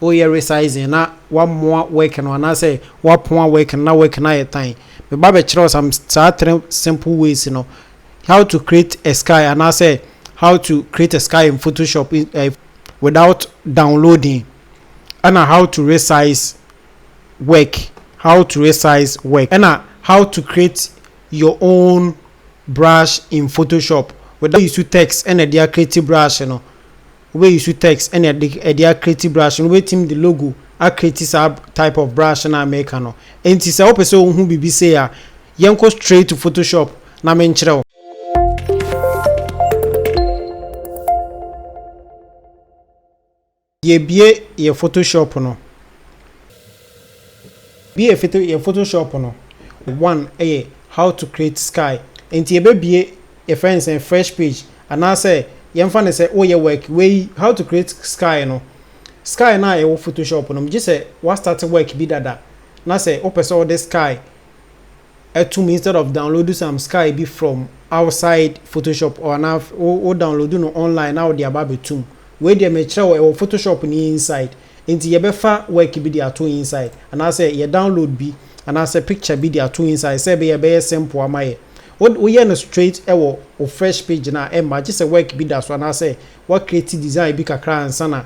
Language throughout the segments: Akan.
Woyɛ resizing na woamoa work no anaasɛ woapoa work no na work no ayɛ tan. Meba bɛkyerɛ wo some saa three simple ways no, how to create a sky anaasɛ how to create a sky in photoshop without downloading ɛna how to resize work, how to resize work ɛna how to create your own brush in photoshop without use text ɛna ɛde a create brush no. wobɛyusu text ne ɛde ɛde akreti brush no wobɛtim de logo akreti saa type of brush no a meka no ɛnti sɛ wopɛ sɛ wohu biribi sei a yɛnkɔ straight to photoshop na menkyerɛ wo. Yɛbie yɛ photoshop no. Bi yɛ photo yɛ photoshop no one yɛ how to create sky nti yɛbɛbie yɛfrɛ no sɛn fresh page anaasɛ yɛmfa no sɛ woyɛ work wei how to create sky no sky no a ɛwɔ photoshop no gye sɛ wa start work bi dada na sɛ wopɛ sɛ wode sky atum instead of download some sky bi from outside photoshop or na wo download no online na wode aba abɛtum wei deɛ mekyerɛ wo ɛwɔ photoshop no inside Enti yɛbɛfa work bi de ato inside anaasɛ yɛ download bi anaasɛ picture bi de ato inside sɛ ɛbɛyɛ a ɛbɛyɛ simple ama yɛ. Wo woyɛ no straight wɔ wo fresh page no a ɛmma gye sɛ work bi da so anaasɛ woa create design bi kakra ansa na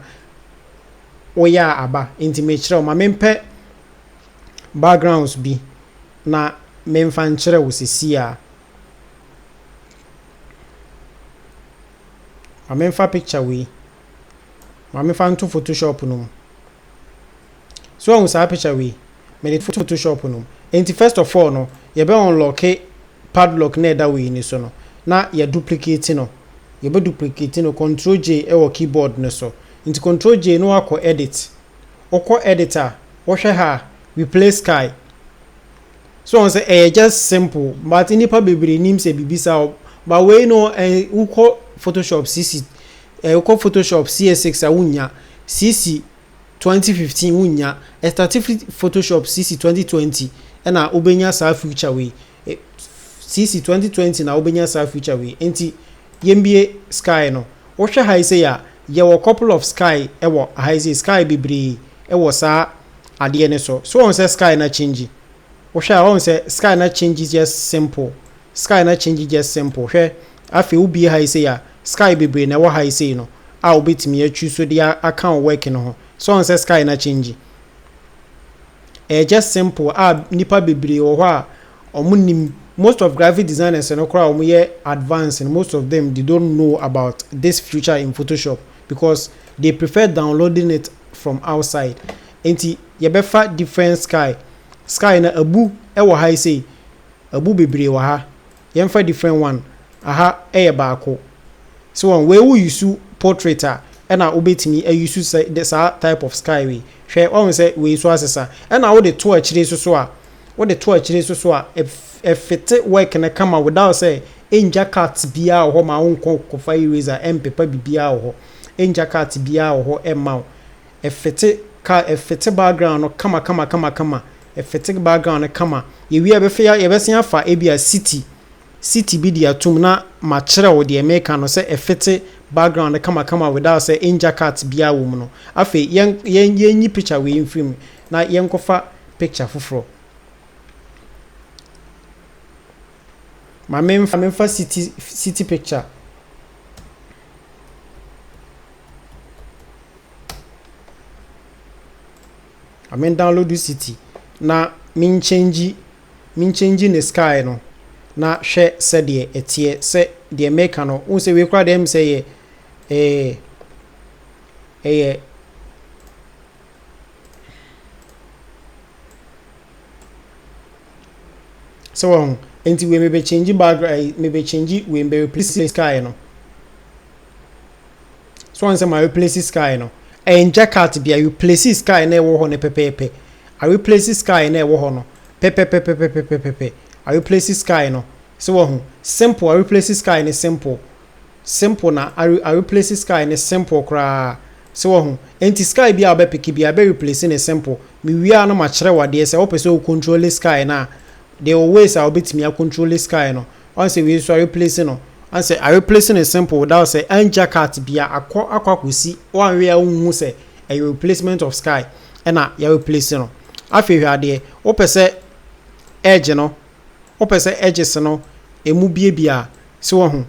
woyɛ a aba. Enti mekyerɛ wo, ma mempɛ backgrounds bi na memfa nkyerɛ wo sesie a. Ma memfa picture wei. Maame fa nto photoshop no mu. So wahu saa picture wei? Mede to photoshop no mu. Enti first of all no, yɛbɛ unlocke padlock na ɛda wei no so no, na yɛ duplicate no. Yɛbɛ duplicate no, control J wɔ keyboard no so. Nti control J na wakɔ edit. Wokɔ edit a, wohwɛ ha a, replace sky. So wɔn sɛ ɛyɛ just simple but nnipa bebree nim sɛ biribi saa wɔ but wei no ɛn wokɔ photoshop sisi ɛɛ wokɔ photoshop cs six a wonnya sisi twenty fifteen wonnya ɛstate firi photoshop sisi twenty twenty ɛna wobɛnya saa future wei sisi twenty twenty na wobɛnya saa future wei nti yɛmbie sky no wohwɛ ha yi sɛ yɛ a yɛwɔ couple of sky ɛwɔ ha yi sɛ sky bebree ɛwɔ saa adeɛ no so so woahu sɛ sky no akyingyi wohwɛ a woahu sɛ sky no akyingyi just simple sky no akyingyi just simple hwɛ afei wobie ha yi sei a sky bebree na ɛwɔ ha yi sei no a wobɛtumi atwi so de aka wo work no ho so woahu sɛ sky no akyingyi ɛyɛ just simple a nipa bebree wɔ hɔ a wɔn nim most of graphic designers no koraa wɔn yɛ advanced no most of them they don't know about this future in photoshop because they prefer downloading it from outside nti yɛbɛfa different sky sky no abu wɔ ha yi sei abu bebree wɔ ha yɛmfa different one aha yɛ baako so wɔn wei wo yusu portrait a ɛna wobɛtumi ayusu sɛ saa type of sky wei hwɛ wɔn sɛ wei so asesa ɛna wode to akyire so so a wode to akyire so so a ɛfete work no kama without sɛ ɛngya cut biara wɔ hɔ ma wonkɔ kɔfa eraser ɛmpepa biribiara wɔ hɔ Ɛngya cart biaa wɔ hɔ ɛmma wo. Ɛfete car ɛfete background no kama kama kama kama ɛfete background no kama. Yɛwie a yɛbɛfɛ yɛbɛsen afa ebia city city bi de atom na makyerɛ wo deɛ meka no sɛ ɛfete background no kama kama without sɛ ɛngya cart biaa wɔ mu no. Afei yɛn yɛn yɛnyi picture wei mfiri mu na yɛnkɔfa picture foforɔ. Ma menfa city city picture. Ma me download city na me nkyɛngyi me nkyɛngyi ne sky no na hwɛ sɛdeɛ ɛteɛ sɛ deɛ meka no wohu sɛ wei koraa deɛ ɛm sɛ yɛ ɛyɛ ɛyɛ So wahu? Enti wei mebe change background ayi eh, mebe change wei mebe replace sky no. So wɔn sɛ ma replace sky no. Ɛnkyɛ cut bia replace sky na ɛwɔ hɔ no pɛpɛɛpɛ. A replace sky na ɛwɔ hɔ no pɛpɛpɛpɛpɛpɛpɛpɛ. A replace sky no. So wahu? Simple a replace sky no simple. simple na a replace sky no simple koraa so wahu nti sky bi a ɔbɛ pick bi a ɛbɛ replace ne simple me wie a na ma kyerɛ wadeɛ sɛ ɔpɛ sɛ o control sky no a deɛ o ways a ɔbɛtumi a control sky no ɔn sɛ wei nso a replace no ɔn sɛ a replace no simple without sɛ angya cut bi a akɔ akɔ akɔsi wanwe a wonhu sɛ ɛyɛ replacement of sky ɛna yɛ replace no afei hwɛ adeɛ wopɛ sɛ edge no Wopɛ sɛ edges no emu biabia a, so wahu?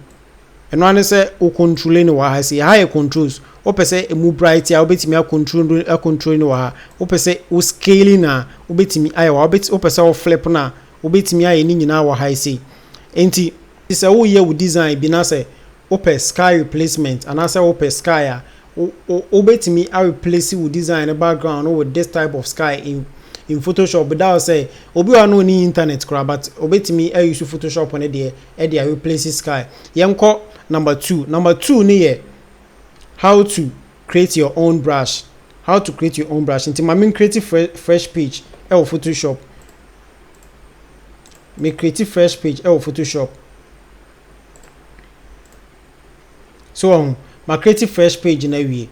Ɛno ara ne sɛ wo controle no wɔ ha sei. Ɛha yɛ controls. Wopɛ sɛ emu bright a, wobɛtumi acontrole acontrole no wɔ ha. Wopɛ sɛ wo scaling a, wobɛtumi ayɛ wɔ ha. Wobɛt wopɛ sɛ wo flip no a, wobɛtumi ayɛ ne nyinaa wɔ ha sei. Enti sɛ woreyɛ wo design bi na sɛ Wopɛ sky replacement anaasɛ wopɛ sky a, wobɛtumi a replace wo design no background no with this type of sky in in photoshop without sɛ, obi wɔ hɔ a na ɔnni internet koraa but ɔbɛtumi a use photoshop no deɛ de a replace sky. Yɛnkɔ number two, number two no yɛ how to create your own brush, how to create your own brush. Nti ma me create fresh page ɛwɔ photoshop, me create fresh page ɛwɔ photoshop. So wahu? Ma create fresh page no awie.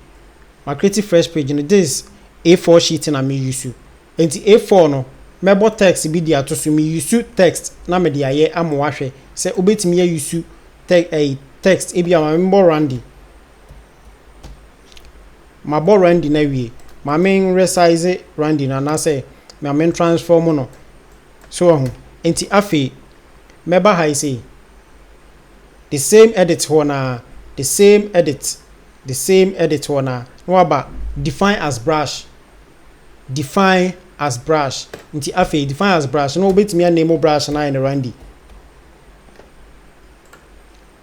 Ma create fresh page no. This A4 sheet na me use. Enti A4 no, mɛbɔ text bi de ato so. Me use text na mede ayɛ ama wahwɛ sɛ wobɛtumi a use te ɛyi text. Ebi a ma mebɔ Randy. Mabɔ Randy no awie. Ma me resize Randy no anaasɛ ma me transform no. So wahu? Enti afei, mɛba ha yi sei, the same edit hɔ no ara, the same edit, the same edit hɔ no ara, na waba define as brush, define as brush, nti afei define as brush no wobɛtumi aname wo brush no ayɛ no Randy.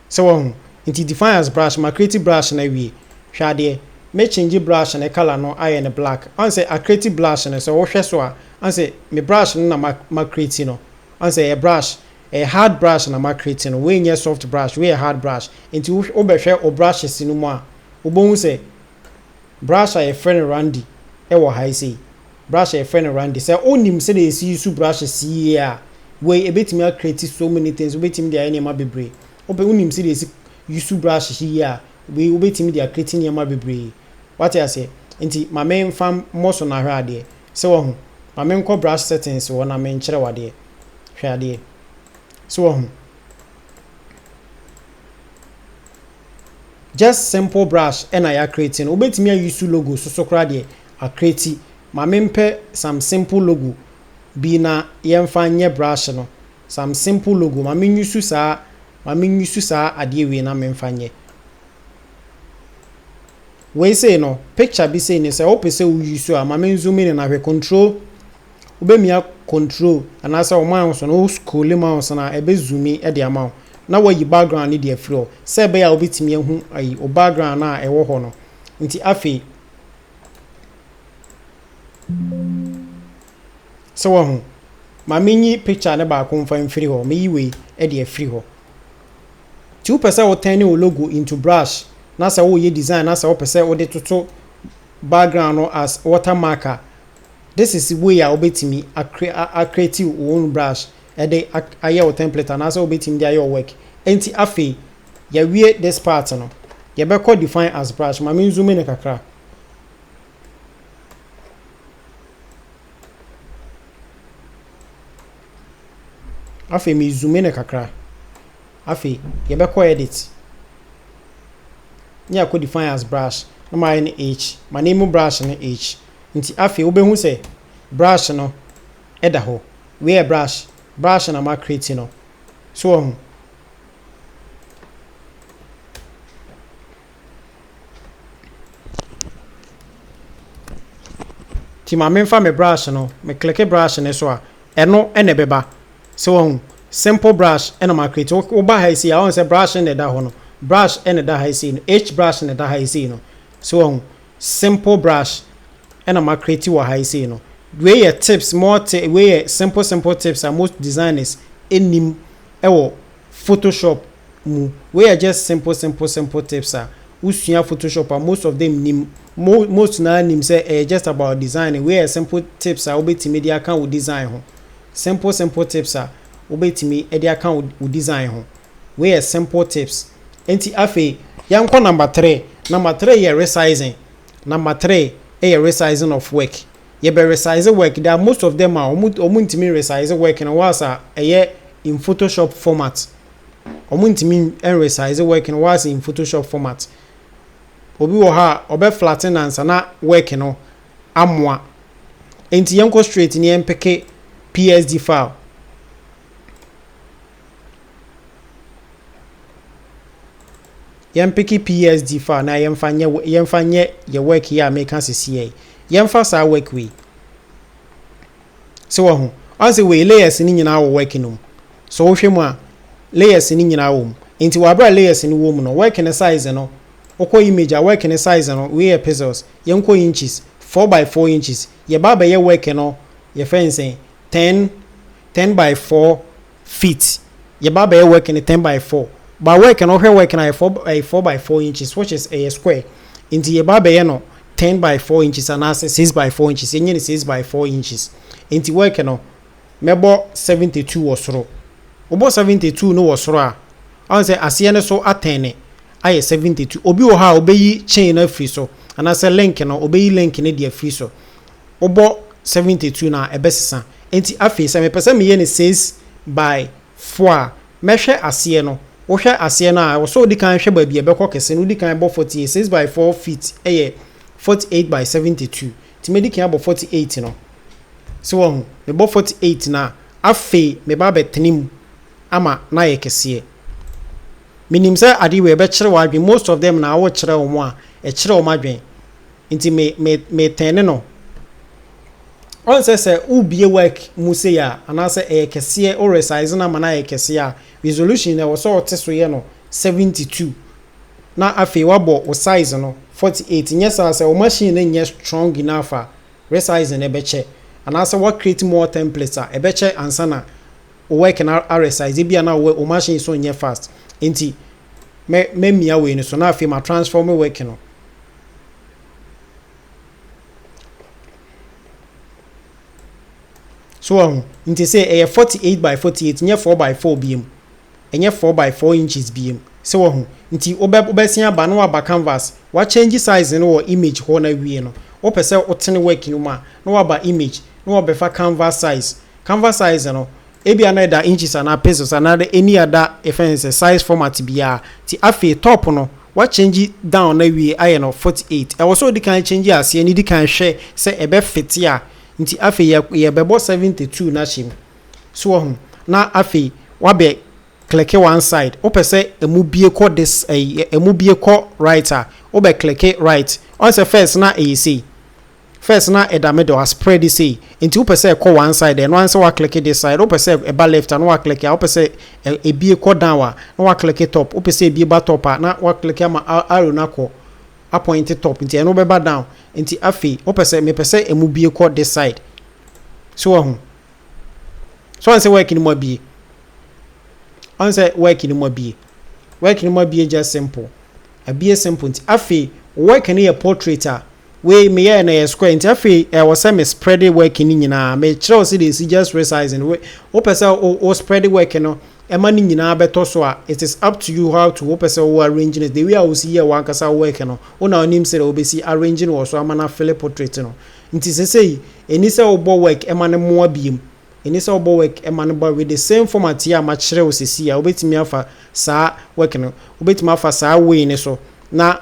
Sɛ wahu, nti define as brush, ma create brush no awie, hwɛ adeɛ, me change brush no color no ayɛ no black, ansɛ a create brush no, sɛ wohwɛ so a, ansɛ me brush no na ma create no, Wahu sɛ ɛyɛ brush, ɛyɛ hard brush na ma create no, wei nyɛ soft brush, wei yɛ hard brush. Nti wo wo bɛ hwɛ wo brushes no mu a, wo bɛ hu sɛ brush a yɛ frɛ no Randy ɛwɔ ha yi sei, brush a yɛ frɛ no Randy. Sɛ wo nim sɛdeɛ yɛ si use brushes yie a, wei ɛbɛtumi a create so many things, wo bɛtumi de ayɛ nneɛma bebree. Wo bɛ wo nim sɛdeɛ yɛ si use brushes yie a, wei wo bɛtumi de a create nneɛma bebree. Wate aseɛ? Nti ma me nfa mmɔ so na ahwɛ adeɛ. So wahu? Ma menkɔ brush settings hɔ na menkyerɛ wo adeɛ. Hwɛ adeɛ. So wahu? Just simple brush ɛna yɛ acreate no. Wobɛtumi a use logo so so koraa deɛ acreate. Ma mempɛ some simple logo bi na yɛmfa nyɛ brush no. Some simple logo. Ma me use saa, ma me use saa adeɛ wei na memfa nyɛ. Wei sei no picture bi sei ni sɛ wopɛ sɛ wo use a ma me zoom in na hwɛ control wobɛmia control anaasɛ wo mouse no wo scroll mouse no a ɛbɛ zoom in de ama wo na wayi background no de afiri hɔ sɛ ɛbɛyɛ a wobɛtumi ahu ayi wo background no a ɛwɔ hɔ no nti afei sɛ wahu ma menyi picture no baako mfa mfiri hɔ meyi wei de afiri hɔ. Nti wopɛ sɛ wo turn wo logo into brush na sɛ woyɛ design na sɛ wopɛ sɛ wode toto background no as water mark a, this is way a wobɛtumi a create wo own brush de ayɛ wo template anaasɛ wobɛtumi de ayɛ wo work. Nti afei, yɛawie this part no, yɛbɛkɔ define as brush. Ma me n zoom no kakra. Afei me zoome no kakra. Afei yɛbɛkɔ edit ne yɛakɔ define as brush na mayɛ no H. Ma name mu brush no H. Nti afei wobɛhu sɛ brush no da hɔ. Wei yɛ brush. Brush na ma create no. So wahu? Nti ma menfa me brush no, me click brush no so a, ɛno na ɛbɛba. So wahu? Simple brush na ma create. Woba ha yi sei a, wohu sɛ brush na ɛda hɔ no. Brush na ɛda ha yi sei no. H brush na ɛda ha yi sei no. So wahu? Simple brush na ma create wɔ ha yi sei no. Wei yɛ tips, more tips, wei yɛ simple simple tips a most designers nnim wɔ Photoshop mu. Wei yɛ just simple simple simple tips a wosua photoshop a most of them nnim. Mo most no ara nim sɛ ɛyɛ just about designing. Wei yɛ simple tips a wobɛtumi de aka wo design ho. Simple simple tips a wobɛtumi de aka wo wo design ho. Wei yɛ simple tips. Enti afei yɛnkɔ number three. Number three yɛ resizing. Number three yɛ resizing of work. yɛbɛ resize work there are most of them a ɔmo ɔmo ntumi resize work no whilst a ɛyɛ in photoshop format ɔmo ntumi resize work no whilst in photoshop format obi wɔ hɔ a ɔbɛ flatten no ansa na work no amoa nti yɛnkɔ straight ne yɛmpeke PSD file. Yɛmpeke PSD file na yɛmfa nyɛ yɛmfa nyɛ yɛ work yi a meka sisiɛ yi. Yɛmfa saa work wei. Se wɔ ho. Ɔn se wei layers ni nyinaa wɔ work no mu. So wohwɛ mu a layers ni nyinaa wɔ mu. Nti wɔ abira layers ni wɔ mu no, work ne size no, wokɔ image a work ne size no, wei yɛ pixels, yɛnkɔ inches, 4 by 4 inches. Yɛba abɛyɛ work no, yɛfɛ nsen, ten ten by four feet yɛba abɛyɛ work no ten by four but work no wohwɛ work no ayɛ four ɛyɛ four by four inches which is ɛyɛ square nti yɛba abɛyɛ no ten by four inches anaasɛ six by four inches yɛnyɛ no six by four inches nti work no mɛbɔ seventy two wɔ soro wobɔ seventy two no wɔ soro a ɔn sɛ aseɛ no so atɛn ne ayɛ seventy two obi wɔ hɔ a obɛyi chain no afiri so anaasɛ link no obɛyi link no de afiri so. wobɔ 72 no a ɛbɛsesa. Enti afei sɛ mepɛ sɛ meyɛ no 6 by 4 a, mɛhwɛ aseɛ no, wohwɛ aseɛ no a ɛwɔ sɛ wodi kan hwɛ baabi a ɛbɛkɔ kɛse no, wodi kan bɔ 48, 6 by 4 feet yɛ 48 by 72, nti mɛdi kan abɔ 48 no. So wahu? Mebɔ 48 no a, afei meba abɛtene mu ama no ayɛ kɛseɛ. Menim sɛ adeɛ wei ɛbɛkyere w'adwene, most of them na wokyerɛ wɔn a, ɛkyere wɔn adwene. Nti me me me tɛne no. Ɔn sɛ sɛ wo bue work mu sei a anaa sɛ ɛyɛ kɛseɛ wo resize no ama no ayɛ kɛseɛ a resolution no ɛwɔ sɛ ɔte so yɛ no 72 na afei wabɔ wo size no 48 nyɛ saa sɛ wo machine no nyɛ strong enough a resizing no ɛbɛkyɛ anaa sɛ wa create more templates a ɛbɛkyɛ ansa na wo work no a resize ebi a na wo wo machine so nyɛ fast nti mɛ mɛ mia wei no so na afei ma transform work no So wɔn ho? Nti se ɛyɛ forty eight by forty eight nyɛ four by four biem. Ɛnyɛ four by four inches biem. Se wɔn ho? Nti wobɛ wobɛsen aba na waba canvas wa change size no wɔ image hɔ na wie no wopɛ sɛ wotene work no mu a na waba image na wɔbɛfa canvas size. Canvas size no. Ebia na ɛda inches anaa pixels anaa dɛ any other yɛfrɛ no sɛ size format biara ntsi afei top no wɔakyɛngye down no ewie ayɛ no forty eight ɛwɔ sɛ ɔdi kan kyɛngye aseɛ no di kan hwɛ sɛ ɛbɛ fete a ntsi afei yɛ yɛbɛbɔ seventy two no ahyɛ mu so wahu na afei wabɛ clicke one side wopɛ sɛ ɛmu bie kɔ this ɛyi ɛmu bie kɔ right a wobɛ clicke right ɔn sɛ first na ɛyɛ sei First na ɛda middle a spread sei nti wopɛ sɛ ɛkɔ one side a ɛno ara ne sɛ wa click this side wopɛ sɛ ɛba left a na wa click a wopɛ sɛ ɛbie kɔ down a na wa click top wopɛ sɛ ɛbie ba top a na wa click ama arrow no akɔ appoint top nti ɛno bɛba down nti afei wopɛ sɛ mepɛ sɛ ɛmu bie kɔ this side so wahu so ɔn sɛ work no mu abie ɔn sɛ work no mu abie work no mu abie just simple Ɛbeyɛ simple nti afei wo work no yɛ portrait a wei me yɛɛ no ɛyɛ square nti afei ɛwɔ sɛ me spread work no nyinaa me kyerɛ wo sɛdeɛ ɛsi just resize no we wo pɛ sɛ wo spread work no ɛma no nyinaa bɛtɔ so a it is up to you how to wo pɛ sɛ wo arrange no the way a wo si yɛ wo ankasa wo work no wo na wo nim sɛdeɛ wo bɛsi arrange no wɔ so ama no afele portrait no nti sɛsɛyi ɛni sɛ wo bɔ work ɛma no moa biom. Ɛnni sɛ wobɔ work ma no ba with the same format yi a makyerɛ wo sɛsi yi a, wobɛtumi afa saa work no, wobɛtumi afa saa way no so na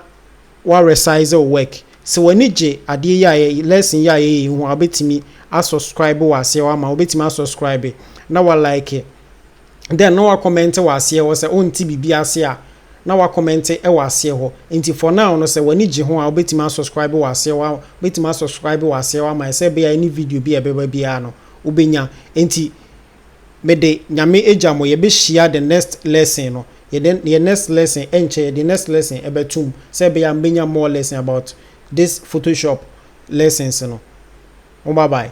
wa resize wo work. Sɛ w'ani gye adeɛ yi a yɛ, lesson yi a yɛyɛ yi ho a, wobɛtumi a subscribe wɔ aseɛ hɔ ama, wobɛtumi a subscribe na wa like. dɛ na ɔakɔmɛntse wɔ aseɛ hɔ sɛ ɔnntse biribi ase a na ɔakɔmɛntse wɔ aseɛ hɔ ntsi for now no sɛ w'ani gye ho a wobɛtumi asɔskraibe wɔ aseɛ hɔ wobɛtumi asɔskraibe wɔ aseɛ hɔ ama yɛ sɛ ebɛyɛ a any video bi a ɛbɛba biara no wobɛnya ntsi mede Nyame egya mo yɛbɛhyia the next lesson no yɛde yɛ next lesson ɛnkyɛ yɛde next lesson ɛbɛto mu sɛ ɛbɛyɛ a mobɛnya more lesson about this photoshop lessons no mo bye bye.